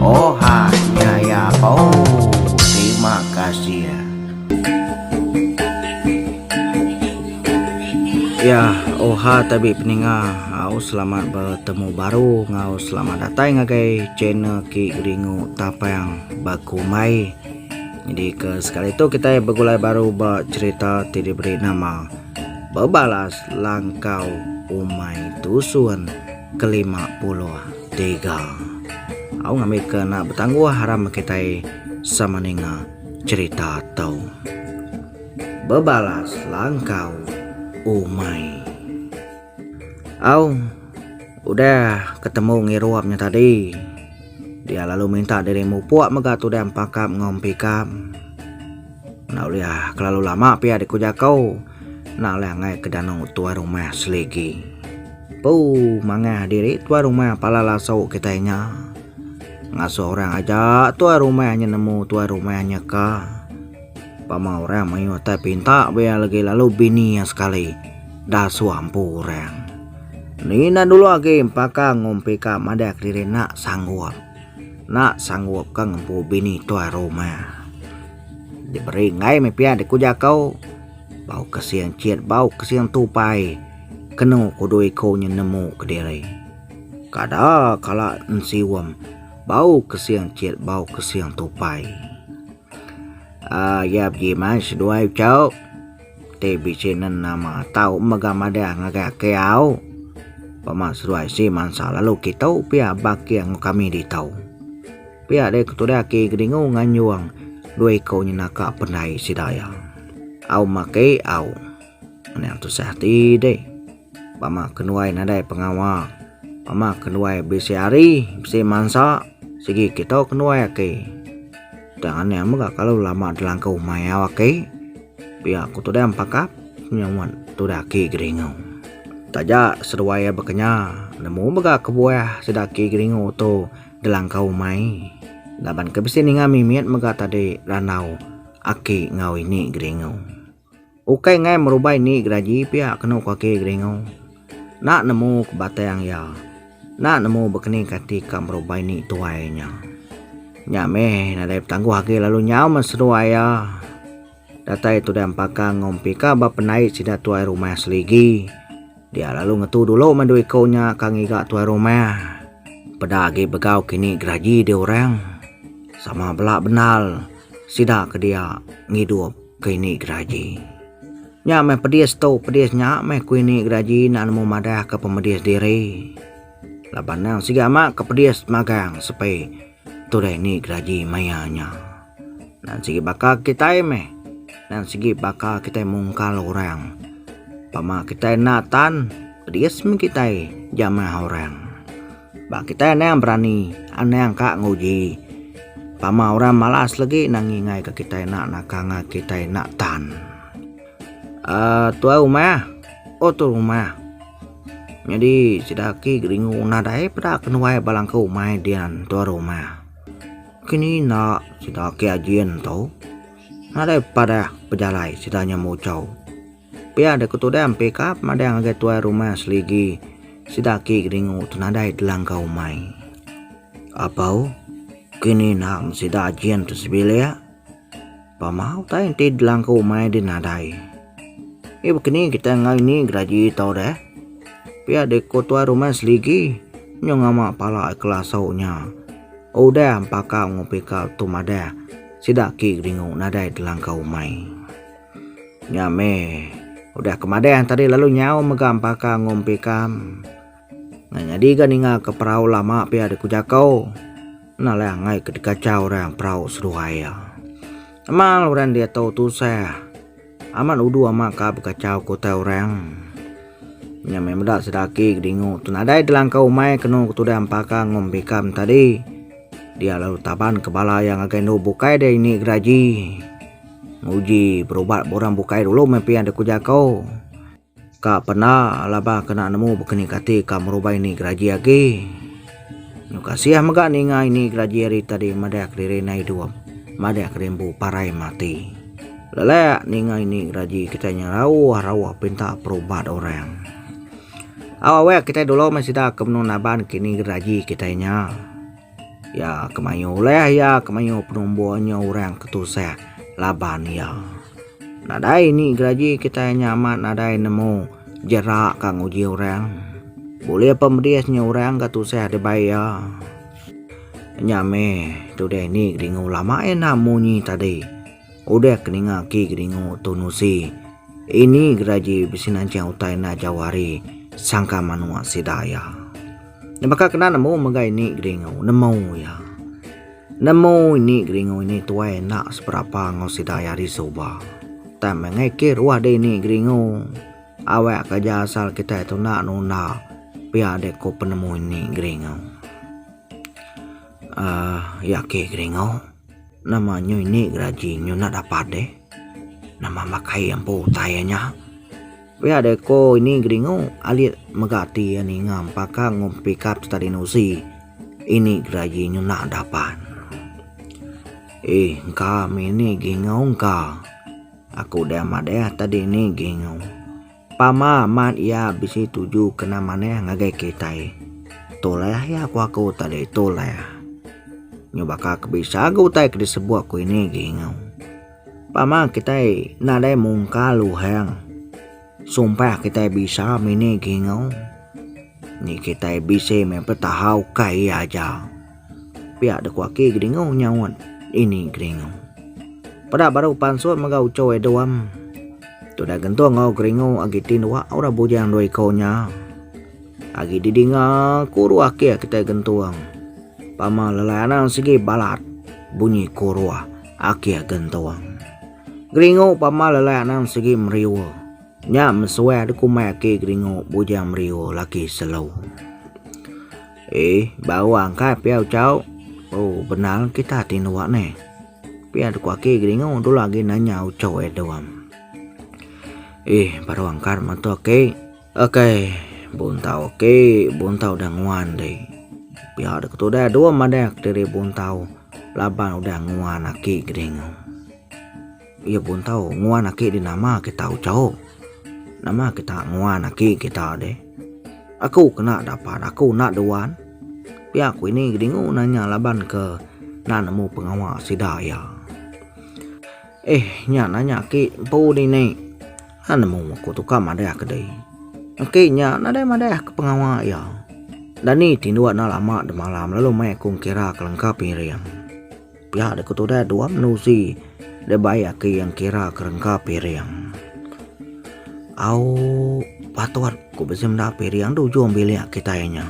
Ohh nya iya ooh terima kasih. Iya ohh tabi peninga au selamat betemu baru enggau selamat datai ngagai channel kiye Geringu Tapang Bekumbai. Jadi ke sekali tu kitai begulai baru ba cherita ti diberi nama Bebalas Langkau Umai Tusun. Kelima puluh tiga. Au ngambi ke enda betangguh aram kitai sama ninga cerita tu. Bebalas langkau umai. Au udah ketemu ngirup nya tadi. Dia lalu minta diri mupuk mega tudan pakap enggau empikap. Enda ulih ah, kelalu lama pia diku jaku. Enda ulih angai ke danu tuai rumah seligi. Pu, mangah diri tuai rumah pala lasu kitai nya. Ngasuh orang aja tuai rumah nya nemu tuai rumah nya ka. Pama orang mayuh tai pinta be iya legi lalu bini iya sekali. Da suah empu orang. Ni enda dulu agi empaka ngumpika madah kediri enda sanggup. Enda sanggup ka ngempu bini tuai rumah. Diberi enggai meh pia deka ujar aku. Bau kesing cit bau kesing tupai kenu ku dua iku nya nemu kediri. Kada kala ensium bau kesing cit bau kesing tupai. Aaa iya begi meh seduai ucau. Ti bisi nenama tau mega madah ngagai aki au. Pama seduai si mansa lalu kitu pia baki enggau kami ditu. Pia dei ke tudah aki Kedingu nganjung dua iku nyenaka pendai sida iya. Au maki au. Nya tusah ati dei. Pama kenuai nadai pengawa. Pama kenuai bisi hari bisi mansa sigi kitu kenuai aki. Tang nya mega kalu lama dilangku mayau aki. Pia aku tudah empakap nyau wan tudah aki Geringu. Taja seduai iya bekenya, nemu mega kebuah sida aki Geringu tu ngelangkau umai laban ke bisi ninga mimit mega tadi randau aki enggau ini Geringu. Ukai enggai merubai ni geraji pia kenu ku aki Geringu. Enda nemu ke batang iya. Enda nemu bekening kati ka berubai ni tuai nya. Nya meh nadai betangguh agi lalu nyau men seduai iya. Datai tudah empaka ngumpi ka ba pendai sida tuai rumah seligi. Dia lalu ngetu dulu meh dua iku nya ka ngiga tuai rumah. Peda agi begau kini geraji deh orang. Sama bela bendal sida ke dia ngidup ke ini geraji. Nya meh pedis tu, pedis nya meh ku ini geraji enda nemu madah ke pemedis diri. Laban endang siga ama ke pedis magang sepi tudah ini geraji maya nya. Dan sigi baka kitai meh, dan sigi baka kitai mungkal orang. Pama kitai enda tan, pedis meh kitai jamah orang. Ba kitai anang berani, anang ka nguji. Tama orang malas legi nang ngingai ka kitai enda naka ngai kitai enda tan. Uh, tuai rumah, oh tu rumah. Jadi sida ki geringu una dai peda kenuai balangku umai dian tuai rumah. Kini enda sida ki ajin tu. Nadai padah pejalai sida nya muchau. Pia deka tudang pikap madang ngagai tuai rumah seligi sida aki kedingu tu nadai telangka umai. Apau kini enda meh sida jin tu sebilik. Pama utai enti telangka umai deh nadai. Ih baka ni kitai ngai ni geragi tau deh. Pia deh ko tuai rumah seligi nyu ngama pala ai kelasu nya. Udah empaka enggau pikap tu madah sida aki kedingu nadai telangka umai. Nya meh. Udah ke madah tadi lalu nyau mega empaka ngumpi kam. Ngai nyadi ga ninga ke perau lama pia di ku jakau. Nah lah ngai ke dikacha orang perau seduai ya. Amal orang dia tau tusah. Amat udu ama ka bekachau ku utai orang. Nya meh meda sedaki ke dingu tu nadai delangka umai kenu ke tudah empaka ngumpi kam tadi. Dia lalu taban ke bala ya ngagai endu bukai dia ini geraji. Nguji berubat ba orang bukai dulu meh pian deh ku jako. Ka pena laban kena nemu bekeni kati ka merubai ni geraji agi. Nyu kasih mega ninga ini geraji hari tadi madah kediri nai idup, madah kerimbu parai mati. Lelak ninga ini geraji kitai nya rauh-rauh pinta perubat orang. Au awak kitai dulu meh sida ke menung naban kini geraji kitai nya. Iya ke mayuh ulih iya ke mayuh penumbuh nya orang ke tusah laban iya. Nadai ni geraji kitai nya amat nadai nemu jerak ka nguji orang. Bulih pe medis nya orang ke tusah dibai iya. Nya meh tudih ni ke dinga ulama enda munyi tadi. Udah ke ninga aki kedingu tu nusi, ini geraji bisi nanching utai enda jauh ari sangka manua sida iya. Nya baka kena nemu mega ini kedingu, nemu iya. Nemu ini kedingu ini tuai enda seberapa enggau sida iya ari suba. Utai meh ngai ke ruah deh ini kedingu. Awak ke aja asal kitai tu enda nunda pia deh ku penemu ini kedingu. Aaa iya ke kedingu. Nama nyu ini geraji nyu enda dapat deh. Nama makai empu utai iya nya. Pia deh ko ini geringu alit mega ati iya ninga empaka pikap stadi nusi ini geraji nyu enda dapat. Ee engka mih ini geringu engka. Aku deh amat deh tadi ini geringu. Pama amat iya bisi tuju kena manah ngagai kitai. Toleh iya ku aku tadi, toleh. Nyu baka ke bisa ga utai ke disebut ku ini agi enggau. Pama kitai nadai mungka luhang sumpah kitai bisa mini agi enggau. Ni kitai bisi meh betahau ka iya aja. Pia de kuaki Geringu nyaut Ini Geringu. Peda baru pansut mega uco Edom. Tuda gentung enggau Geringu agi ti dua orang bujang dua iko nya. Agi di dinga kuru akih kitai gentung. Pama lelai anang sigi balat bunyi kuru akih gentung. Geringu pama lelai anang sigi meriu. Nya mesuai de kumai aki Geringu bujang meriu laki selu. Ih, ba awang kai pia ucau. Oh, benal kita ti nuwa ne. Pia deko aki geringu dula agi nanya ucau e doam. Ih, baru angkar matu aki. Okey, buntau aki, buntau dah nguan deh. Pia deko tu dah dua madah diri buntau laban udah nguan aki geringu. Iya pun tau nguan aki di nama kita ucau. Nama kita nguan aki kita di. Aku kena dapat aku enda duan. Pia ku ini Gedingu nanya laban ke enda nemu pengawa sida iya. Eh nya nanya aki empu dini. Enda nemu aku tukar madah ke dei. Aki nya nadai madah ke pengawa iya. Dani ti ndua enda lama demalam lalu mai aku ngira kelengkap iring. Pia dek tu deh dua menusi deh bai aki yang kira kerengka piring. Au patut ku bisi menda piring tu ujung bilik kitai nya.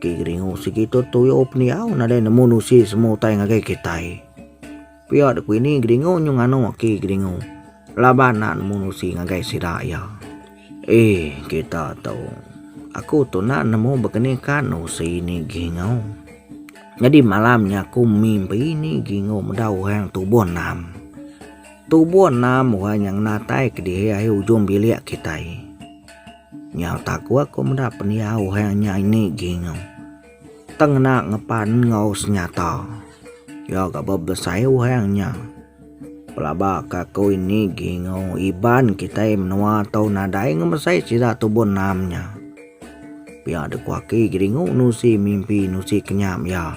Ki geringu sigi tu tuyo pendiau nadai nemu nusi semu utai ngagai kitai. Pia dek ini geringu nyu nganu aki geringu laban nak nemu nusi ngagai sida iya. Ee kita tu. Aku tu enda nemu bekenika nusi nigi enggau. Nyadi malam nya aku mimpi nigi enggau meda orang tubuh enam. Tubuh enam orang nya ngena tai kedihi ai ujung bilik kitai. Nyau taku aku meda pendiau orang nya nigi enggau. Tang ngena ngepan enggau senyata. Iya ga ba besai orang nya. Pelaba ka aku ini gi enggau Iban kitai menua tau nadai ngemesai sida tubuh enam nya. Pia da ku aki Geringu nusi mimpi nusi kenyam iya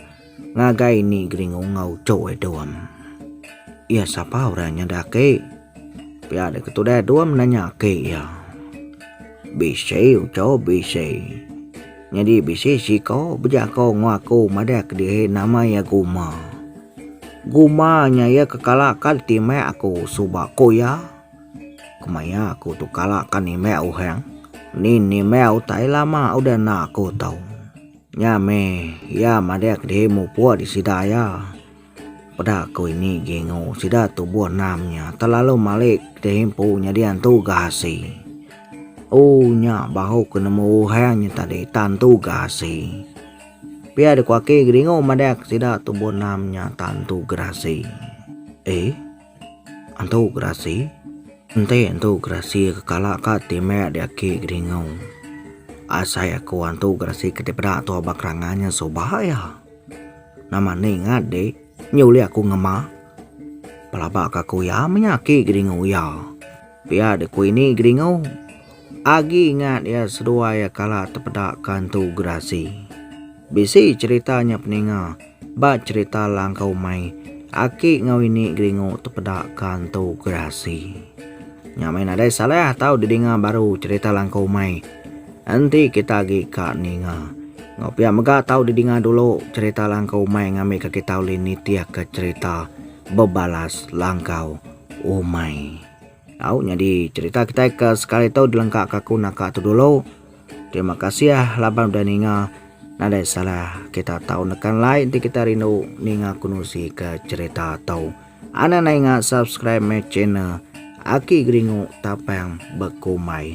ngagai ini Geringu enggau Choi Dom. Iya sapa orang nya da aki? Pia deka tudah dua menanya ke iya. Bisi uco bisi. Nyadi bisi siko bejako ngo aku madah ke dihi nama iya Guma. Guma nya iya ke kala ka timek aku suba ko iya. Kemaya aku tu kala ka nimek uhang ni nimek utai lama udah enda aku tau. Nya meh iya madah ke dihi mupok di sida iya. Peda ku ini Gengo sida tubuh enam nya telalu malik ti empu nyadi antu Gahasi. Ooh nya bahu ku nemu Uhang nya tadi tantu Gahasi. Pia dikuaki Gengo madak sida tubuh enam nya tantu Gerasi. Eh? Antu Gerasi? Enti antu Gerasi ke kala ka ti meh diaki Gengo. Asai aku antu Gerasi ke dipeda tuah ba kerangan nya suba iya. Nama ning ngat dik, nyu ulih aku ngema. Pelaba ka ku iya menya aki geringu iya. Pia deh ku ini geringu. Agi ngat iya seduai iya kala tepeda ka entu gerasi. Bisi cerita nya peninga ba cerita langkau mai aki enggau ini geringu tepeda ka entu gerasi. Nya meh nadai salah tau didinga baru cerita langkau mai. Enti kita agi ka ninga enggau pia mega tau didinga dulu cherita langkau umai ngambika kita ulih nitihka cherita bebalas langkau umai. Au nyadi cherita kitai ke sekali tu dilengkaka aku naka tu dulu. Terima kasih laban udah ninga. Nadai salah kita tau neka like enti kita rindu ninga kenusi ke cherita tu. Anang nainga subscribe me channel Aki Geringu Tapang Bekumbai.